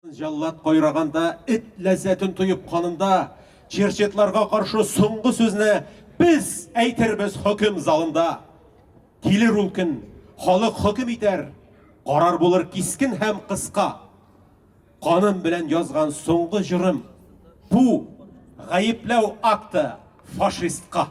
Җаллад кайраганда, эт ләззәтен тоеп канында, черчетларга каршы соңгы сүзне без әйтербез хөкем залында. Килер ул көн, халык хөкем итәр, карар булыр кискен һәм кыска. Каным белән язган соңгы җырым бу гаепләү акты фашистка.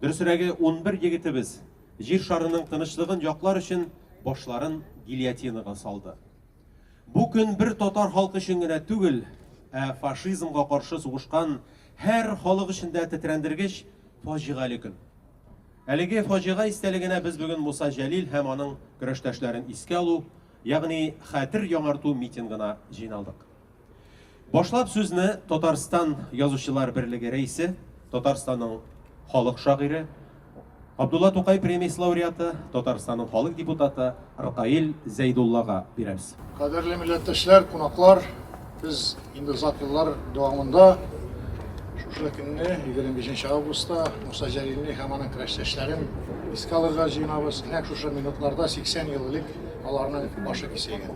Дөресрәге, унбер егетебез Җир шарының тынычлыгын яклар өчен башларын гильотинага салды. Бу көн бер татар халкы өчен генә түгел, ә фашизмга каршы сугышкан һәр халык өчен дә тетрәндергеч фаҗигале көн. Әлеге фаҗига истәлегенә без бүген Муса Җәлил һәм аның көрәштәшләрен искә алу, ягъни хәтер яңарту митингына җыйналдык. Башлап сүзне Татарстан язучылар берлеге рәисе, Татарстанның халык шагыйре, Абдулла Тукай премиясе лауреаты, Татарстанның халык депутаты Ркаил Зәйдуллага бирәбез. Кадерле милләттәшләр, кунаклар, без инде озак еллар дәвамында шушы көнне, 25 августта, Муса Җәлилне һәм аның көрәштәшләрен искә алырга җыенабыз. Нәкъ шушы минутларда 80 ел элек аларның башы киселгән.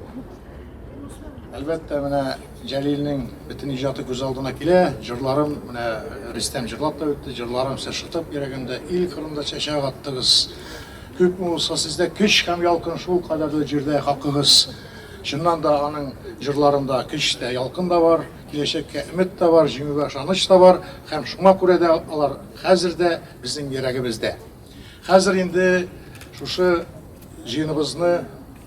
Әлбәттә, менә Җәлилнең бөтен иҗаты күз алдына килә. Җырларым, менә Рөстәм җырлап та үтте, җырларым сез шытып йөрәгемдә ил кырында чәчәк аттыгыз. Күпме булса сездә көч һәм ялкын шул кадәрле җирдә хакыгыз. Чыннан да аның җырларында көч тә, ялкын да бар, киләчәккә өмет тә бар, җиңүгә ышаныч та бар һәм шуңа күрә дә алар хәзер дә безнең йөрәгебездә. Хәзер инде шушы җыеныбызны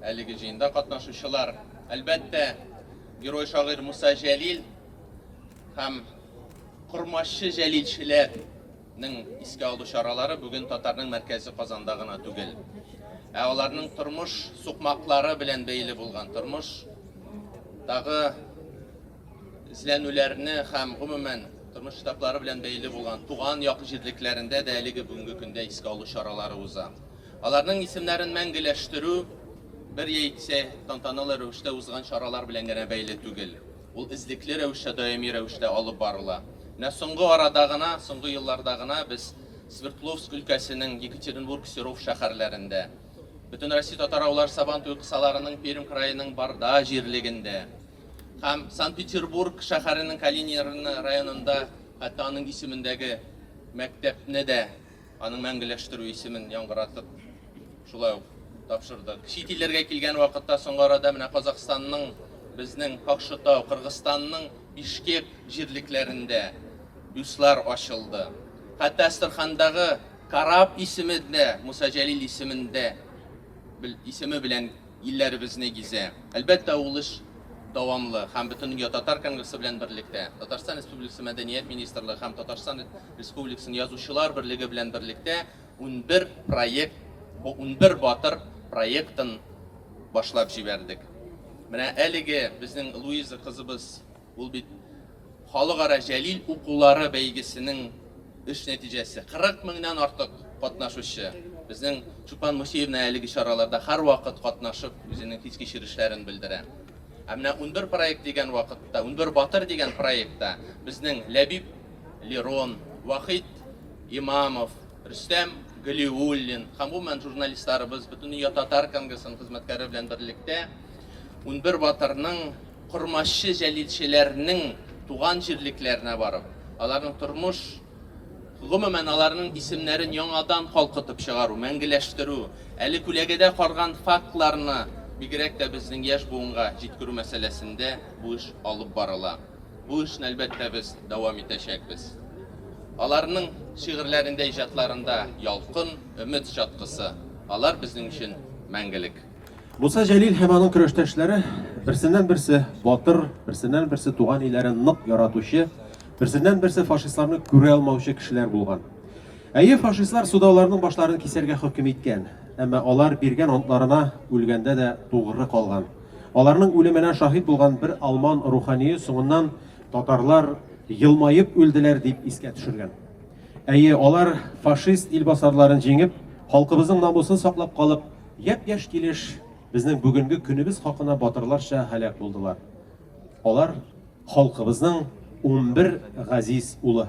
Әлеге җыенда катнашучылар, әлбәттә, герой шагыйрь Муса Җәлил һәм Кормашчы Җәлилчеләрнең искә алу чаралары бүген татарның мәркәзе Казанда гына түгел. Ә аларның тормыш сукмаклары белән бәйле булган тормыш тагы эзләнүләрне һәм гомумән тормыш штаблары белән бәйле булган туган як җирлекләрендә дә әлеге бүгенге көндә искә алу чаралары уза. Аларның исемнәрен мәңгеләштерү бер яисә тантаналы рәвештә узган чаралар белән генә бәйле түгел. Ул эзлекле рәвештә, даими рәвештә алып барыла. Менә соңгы арада гына, соңгы елларда гына без Свердловск өлкәсенең Екатеринбург, Серов шәһәрләрендә, Бөтенроссия татар-авыллар Сабан туе кысаларының Пермь краеның Барда җирлегендә һәм Санкт-Петербург шәһәренең Калинин районында хәтта аның исемендәге мәктәпне дә Аның мәңгеләштерү исемен яңгыратып, шулай ук тапшырдык. Чит илләргә килгән вакытта соңгы арада менә Казахстанның, безнең Какшытау, Кыргызстанның Бишкек җирлекләрендә бюстлар ачылды. Хәтта Астрахандагы Караб исеме дә Муса Җәлил исемендә исеме белән илләребезне гизә. Әлбәттә, ул эш дәвамлы һәм Бөтендөнья татар конгрессы белән берлектә Татарстан Республикасы Мәдәният министрлыгы һәм Татарстан Республикасын Язучылар берлеге белән берлектә унбер проект, бу унбер батыр проектын башлап җибәрдек. Менә әлеге безнең Луиза кызыбыз, ул бит Халыкара Җәлил укулары бәйгесенең эш нәтиҗәсе. 40 меңнән артык катнашучы. Безнең Чулпан Мусеевна әлеге чараларда һәрвакыт катнашып, үзенең хис-кичерешләрен белдерә. Ә менә унбер проект дигән вакытта, унбер батыр дигән проектта безнең Ләбиб, Лерон, Вахит Имамов, Рөстәм Галиуллин, һәм гомумән журналистларыбыз Бөтендөнья татар конгрессының хезмәткәре белән берлектә 11 батырның кормашчы җәлилчеләрнең туган җирлекләренә барып, аларның тормыш Гомумән, аларның исемнәрен яңадан калкытып чыгару, мәңгеләштерү, әле күләгәдә карган фактларны бигрәк тә безнең яшь буынга җиткерү мәсьәләсендә бу эш алып барыла. Бу эшне, әлбәттә, без дәвам итәчәкбез. Аларның шигырьләрендә, иҗатларында ялкын, өмет чаткысы. Алар безнең өчен мәңгелек. Муса Җәлил һәм аның көрәштәшләре берсеннән-берсе батыр, берсеннән-берсе туган илләрен нык яратучы, берсеннән-берсе фашистларны күрә алмаучы кешеләр булган. Әйе, фашистлар суда аларның башларын кисәргә хөкем иткән, әмма алар биргән антларына үлгәндә дә тугры калган. Аларның үлеменә шаһит булган бер алман рухание соңыннан Татарлар елмаеп үлделәр дип искә төшергән. Әйе, алар фашист илбасарларын җиңеп, халкыбызның намусын саклап калып, япь-яшь килеш безнең бүгенге көнебез хакына батырларча һәлак булдылар. Алар халкыбызның 11 газиз улы.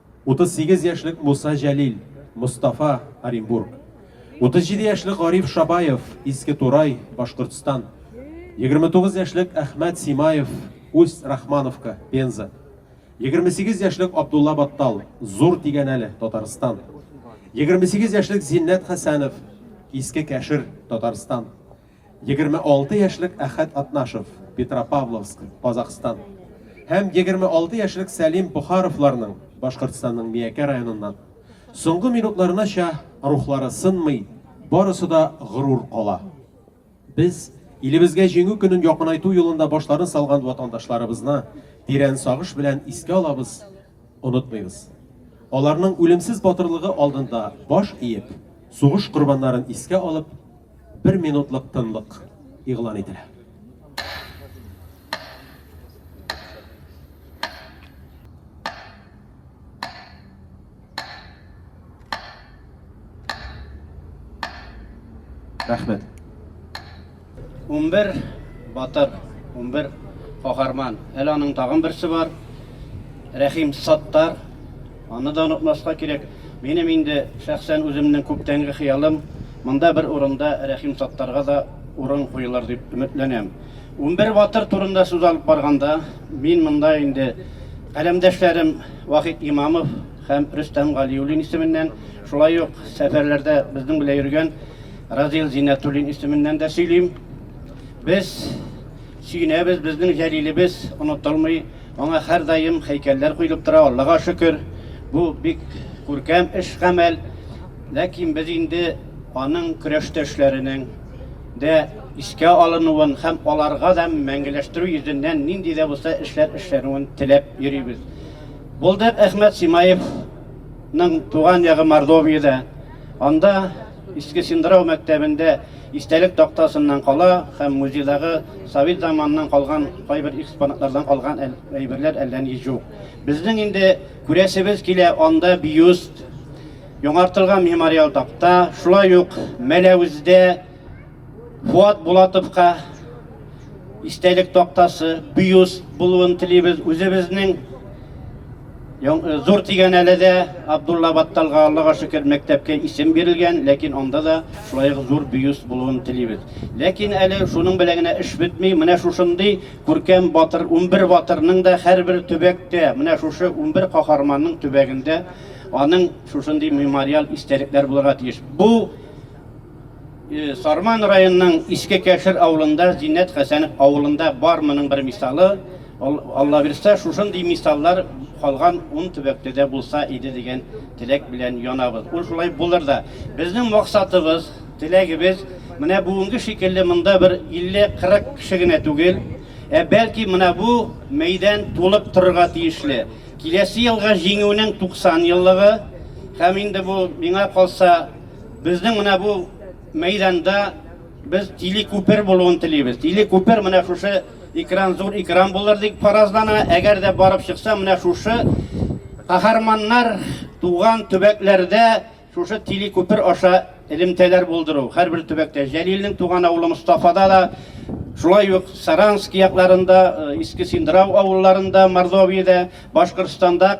38 яшьлек Муса Җәлил, Мостафа, Оренбург. 37 яшьлек Гариф Шабаев, Иске Турай, Башкортстан. 29 яшьлек Әхмәт Симаев, Усть Рахмановка, Пенза. 28 яшьлек Абдулла Баттал, Зур Тигәнәле, Татарстан. 28 яшьлек Зиннәт Хәсәнов, Иске Кәшер, Татарстан. 26 яшьлек Әхәт Атнашев, Петропавловск, Казахстан, һәм 26 яшьлек Сәлим Бухаровларның, Башкортстанның Миякә районыннан, соңгы минутларынача рухлары сынмый, барысы да горур кала. Без илебезгә җиңү көнен якынайту юлында башларын салган ватандашларыбызны тирән сагыш белән искә алабыз, онытмыйбыз. Аларның үлемсез батырлыгы алдында баш иеп, сугыш корбаннарын искә алып, Бер минутлык тынлык игълан ителә. Рәхмәт. 11 батыр, 11 каһарман. Әле аның тагын берсе бар. Рәхим Саттар Аны да онытмаска кирәк. Минем инде шәхсән үземнең күптәнге хыялым, монда бер урында Рәхим Саттарга да урын куелыр дип өметләнәм. Унбер батыр турында сүз алып барганда, мин монда инде каләмдәшләрем Вахит Имамов һәм Рөстәм Галиуллин исеменнән, шулай ук сәфәрләрдә безнең белән йөргән Разил Зиннәтуллин исеменнән дә сөйлим. Без. Сөенәбез, безнең Җәлилебез онытылмый, аңа һәрдаим һәйкәлләр куелып тора, Аллага шөкер, бу бик күркәм эш-гамәл. Ләкин без инде аның көрәштәшләренең дә искә алынуын һәм аларга да мәңгеләштерү йөзеннән нинди дә булса эшләр эшләнүен теләп йөрибез. Булдык Әхмәт Симаевның туган ягы Мордовиядә. Анда Иске Синдрау мәктәбендә Истәлек тактасыннан кала һәм музейдагы совет заманыннан калган кайбер экспонатлардан калган әйберләр әллә ни җук. Безнең инде күрәсебез килә, анда бюст, яңартылган мемориал такта, шулай ук Мәләвездә Фуат Булатовка, истәлек тактасы, бюст булуын телибез. Үзебезнең э, Зур Тигәнәледә Абдулла Батталга Аллага шөкер мәктәпкә исем бирелгән, ләкин анда да шулай ук зур бюст булуын телибез. Ләкин әле шуның белән генә эш бетми. Менә шушындый күркәм батыр 11 батырның да һәрбер төбәктә, менә шушы 11 каһарманның төбәгендә аның шушындый мемориаль истәлекләр булырга тиеш. Бу Э, Сарман районының Иске Кәшер авылында, Зиннәт Хәсәнов авылында бар моның бер мисалы. Алла бирсә, шушындый мисаллар калган ун төбәктә дә булса иде дигән теләк белән янабыз. Ул шулай булыр да. Безнең максатыбыз, теләгебез менә бүгенге шикелле монда бер 50-40 кеше генә түгел, ә бәлки менә бу мәйдан тулып торырга тиешле. Киләсе елга җиңүнең 90 еллыгы һәм инде бу миңа калса Безнең менә бу мәйданда без тиле күпер булуын телибез. Тиле күпер менә шушы экран зур экран булыр дип фаразлана. Әгәр дә барып чыкса, менә шушы каһарманнар туган төбәкләрдә шушы тиле күпер аша элемтәләр булдыру. Һәрбер төбәктә Җәлилнең туган авылы Мостафада да Шулай ук Саранск якларында, э, Иске Синдрау авылларында, Мордовиядә Башкортстанда,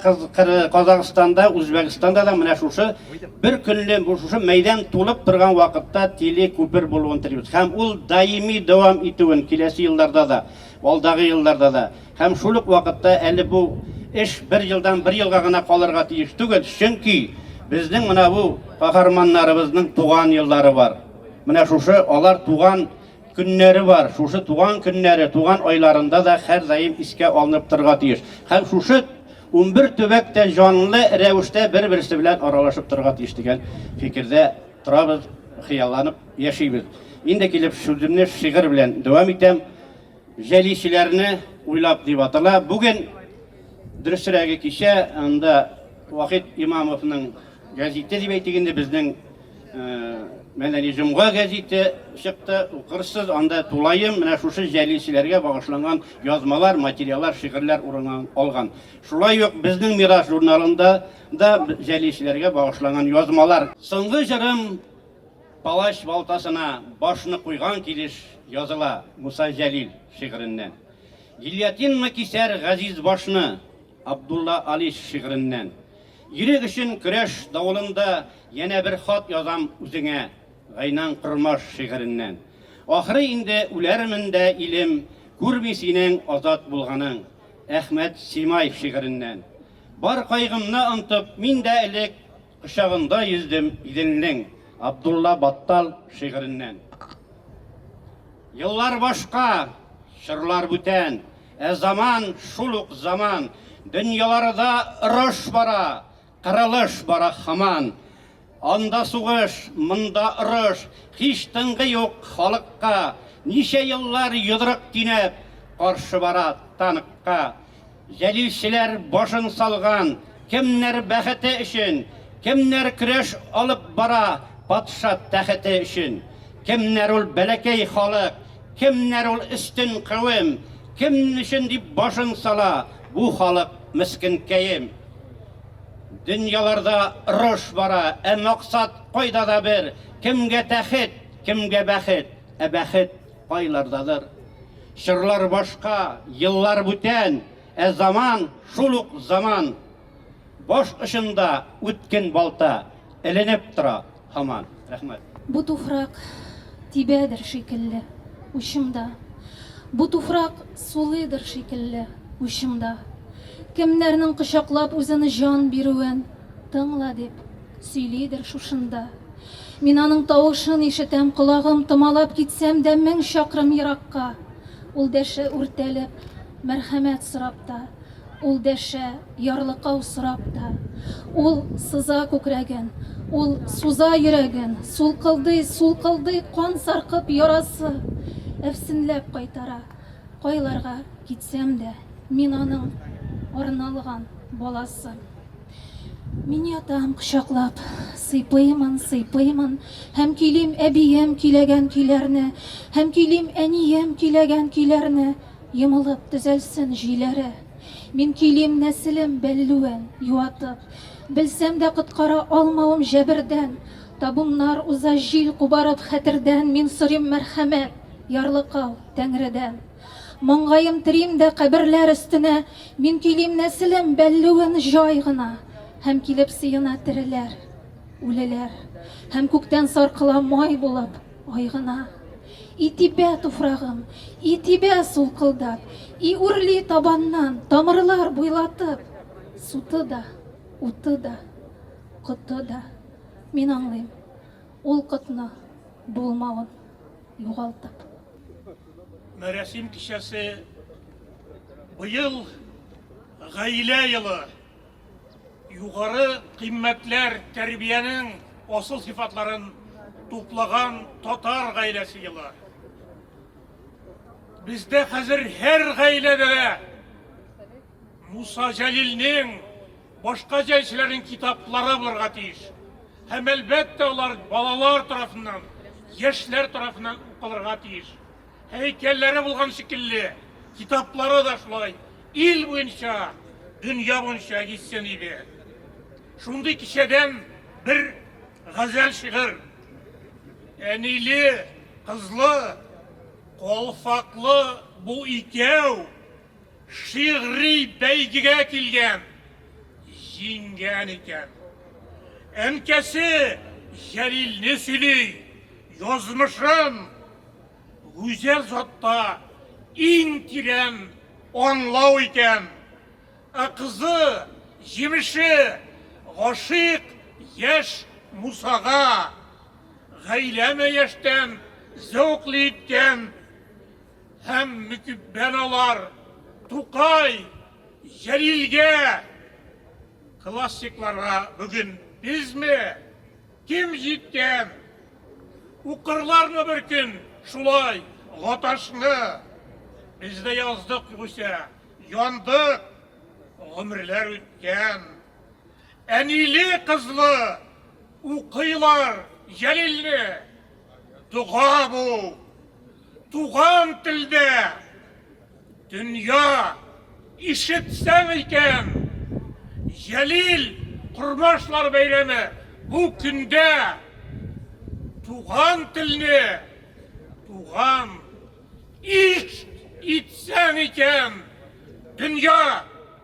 Казахстанда, Үзбәкстанда да менә шушы бер көнле шушы мәйдан тулып торган вакытта тиле күпер булуын телибез. Һәм ул даими дәвам итүен киләсе елларда да, алдагы елларда да. Һәм шул ук вакытта әле бу эш бер елдан бер елга гына калырга тиеш түгел, чөнки безнең менә бу каһарманнарыбызның туган еллары бар. Менә шушы алар туган көннәре бар. Шушы туган көннәре, туган айларында да һәрдаим искә алынып торырга тиеш. Һәм шушы 11 төбәк тә җанлы рәвештә бер-берсе белән аралашып торырга тиеш дигән фикердә торабыз, хыялланып яшибез. Инде килеп сүземне шигырь белән дәвам итәм. Җәличеләрне уйлап дип атала. Бүген дөресрәге кичә анда Вахит Имамовның гәзите дип әйтик инде, безнең Мәдәни җомга гәзите чыкты, укырсыз, анда тулаем менә шушы җәлилчеләргә багышланган язмалар, материаллар, шигырьләр урын алган. Шулай ук безнең мирас журналында да җәлилчеләргә багышланган язмалар. Соңгы җырым Палач балтасына башны куйган килеш языла, Муса Җәлил шигыреннән. Гильотинмы кисәр газиз башны, Абдулла Алиш шигыреннән. Ирек өчен көрәш давылында янә бер хат язам үзеңә, Гайнан Кормаш шигыреннән. Ахры инде үләрмен дә, илем, күрми синең азат булганың, Әхмәт Симаев шигыреннән. Бар кайгымны онтып, мин дә элек кочагында йөздем Иделнең, Абдулла Баттал шигыреннән. Еллар башка, чорлар бүтән. Ә заман шул ук заман. Дөньяларыда орыш бара, кырылыш бара хаман. Анда сугыш, монда орыш, һич тынгы юк халыкка. Ничә еллар йодрык тинәп, каршы бара танкка. Җәлилчеләр башын салган, Кемнәр бәхете өчен, кемнәр көрәш алып бара патша тәхете өчен. Кемнәр ул бәләкәй халык, кемнәр ул өстен кавем, кем өчен дип башын сала бу халык мескенкәем. Дөньяларда орыш бара, ә максат кайда да бер, кемгә тәхет, кемгә бәхет, ә бәхет кайлардадыр. Чорлар башка, еллар бүтән, Ә заман, шул ук заман. Баш очында үткен балта эленеп тора һаман. Рәхмәт. Бу туфрак тибәдер шикелле учымда, Бу туфрак сулыйдыр шикелле учымда. Кемнәрнең кочаклап үзен җан бирүен тыңла дип сөйлидер шушында. Мин аның тавышын ишетәм, колагым томалап китсәм дә мең чакрым еракка, Ул дәшә үртәлеп, Мәрхәмәт сорап та Ул дәшә, ярлыкау сорап та Ул сыза күкрәген, ул суза йөрәген, Сулкылдый, сулкылдый кан саркып ярасы, Әфсенләп кайтара, кайларга китсәм дә, Мин аның арналган баласы. Мин ятам кочаклап, сыйпыймын, сыйпыймын, Һәм көйлим әбием көйләгән көйләрне, Һәм көйлим әнием көйләгән көйләрне. Йомылып төзәлсен җөйләре. Мин көйлим нәселем бәллүен юатып. Белсәм дә коткара алмавым җәбердән. Табуннар уза җил кубарып хәтердән. Мин сорыйм мәрхәмәт, ярлыкау, Тәңредән. Маңгаем терим дә каберләр өстенә. Мин көйлим нәселем бәллүен җай гына. Һәм килеп сыена тереләр, үлеләр. Һәм күктән саркыла май булып. Ай гына. И тибә туфрагым, и тибә сулкылдап, и үрли табаннан, тамырлар буйлатып. Суты да, уты да, коты да. Мин аңлыйм, ул котны булмавын югалтып. Мәрәсим кичәсе быел гаилә елы. Югары кыйммәтләр тәрбиянең асыл сыйфатларын туплаган татар гаиләсе елы. Бездә хәзер һәр гаиләдә дә Муса Җәлилнең, башка җәлчеләрнең китаплары булырга тиеш. Һәм әлбәттә алар балалар тарафыннан, яшьләр тарафыннан укылырга тиеш. Һәйкәлләре булган шикелле, китаплары да шулай ил буенча, дөнья буенча исем иде. Шундый кичәдән бер газәл шигырь. Әниле, кызлы, калфаклы бу икәү. Шигъри бәйгегә килгән, җиңгән икән. Әнкәсе Җәлилне сөйли, язмышын гүзәл затта иң тирән аңлау икән. Ә кызы, җимеше, гашыйк яшь Мусага, гаиләме яшьтән зәвыклы иткән. Һәм мөкиббән алар Тукай, Җәлилгә, классикларга бүген безме, кем җиткән, укырлармы бер көн шулай Гаташны? Без дә яздык югыйсә, яндык, гомерләр үткән. Әниле-кызлы укыйлар Җәлилне, дога бу! Туган телдә! Дөнья, ишетсәң икән! Җәлил Кормашлар бәйрәме бу көндә туган телне, туган, ишт итсәң икән! Дөнья,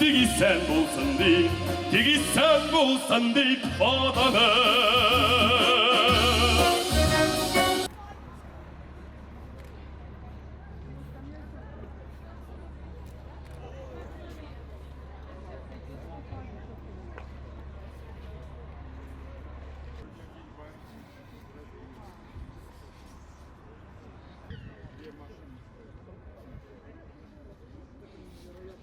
Тик исән булсын дип, тик исән булсын дип атаны.